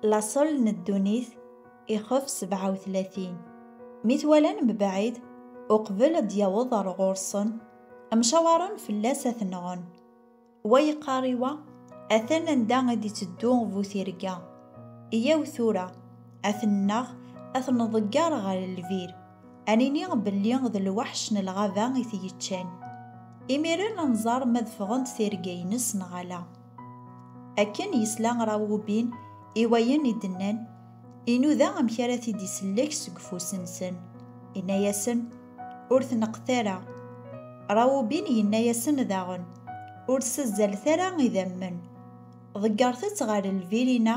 laṣel n ddunit ixef 37 mi t-walan mebɛid uqbel ad d-yaweḍ ar ɣur-sen mcawaren fell-as ad t-nɣen wa yeqqar i wa atan anda i d-iteddu bu tirga yyaw tura ad t-nneɣ ad t-nḍegger ɣer lbir ad nini belli d lweḥc n lɣaba i t-yeččan imiren ad nẓer ma d ffɣent tirga-ines neɣ ala. Akken yesla Rawubin i wayen i d-nnan, inuda amek ara t-id-isellek seg ufus-nsen. Inna-yasen, Ur tneqqet ara. Rawubin yenna-yasen daɣen, Ur ssazzalet ara idammen. Ḍeggret-tt ɣer lbirina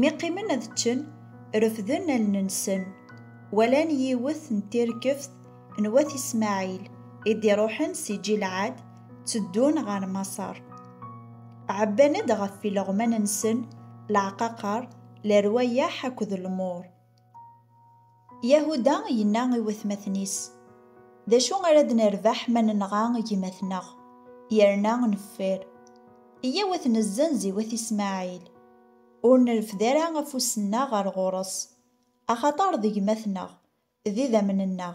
Mi qqimen ad ččen, refden allen-nsen, walan yiwet n tirkeft n wat Ismaɛil i d-iruḥen si Ǧilɛad, tteddun ɣer Maṣer. Ɛebban-d ɣef ileɣman-nsen leɛqaqer, lerwayeḥ akked lmuṛ. Yahuda yenna i watmaten-is, D acu ara d-nerbeḥ ma nenɣa gma-tneɣ, yerna neffer? Iyyaw ad t-nezzenz i wat Ismaɛil, ur nerfed ara afus-nneɣ ɣer ɣur-s, axaṭer d gma-tneɣ, d idammen-nneɣ,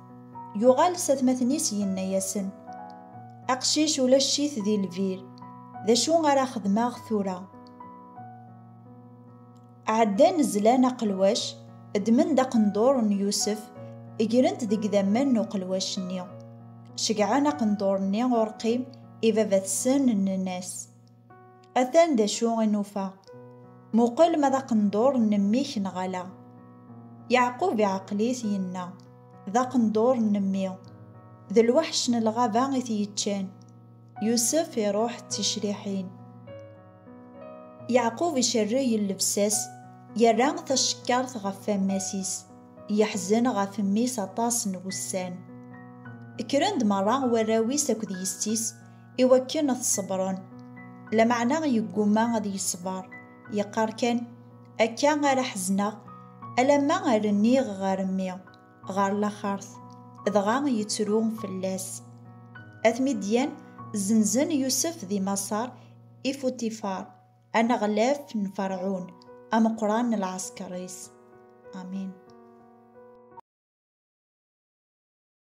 Yuɣal s atmaten-is yenna-yasen, Aqcic ulac-it di lbir, d acu ara xedmeɣ tura? Ɛeddan zlan aqelwac, ddmen-d aqendur n Yusef, gren-t deg idammen n uqelwac-nni. Ceggɛen aqendur-nni urqim i baba-tsen, nnan-as, Atan d acu i nufa. Muqel ma d aqendur n mmi-k neɣ ala. Yeɛqub iɛqel-it, yenna, D aqendur n mmi. D lweḥc n lɣaba i t-yeččan. Yusef iruḥ d ticriḥin. Yeɛqub icerreg llebsa-s, yerra tacekkart ɣef wammas-is, yeḥzen ɣef mmi-s aṭas n wussan. Kkren-d merra warraw-is akked yessi-s, i wakken ad t-ṣebren. Lameɛna yeggumma ad yeṣber, yeqqar kan, Akka ara ḥezneɣ, alamma rniɣ ɣer mmi, ɣer laxert, dɣa yettru fell-as. At Midyan zzenzen Yusef di Maṣer i Fuṭifar, aneɣlaf n Ferɛun, ameqqran n lɛesker-is. Amin.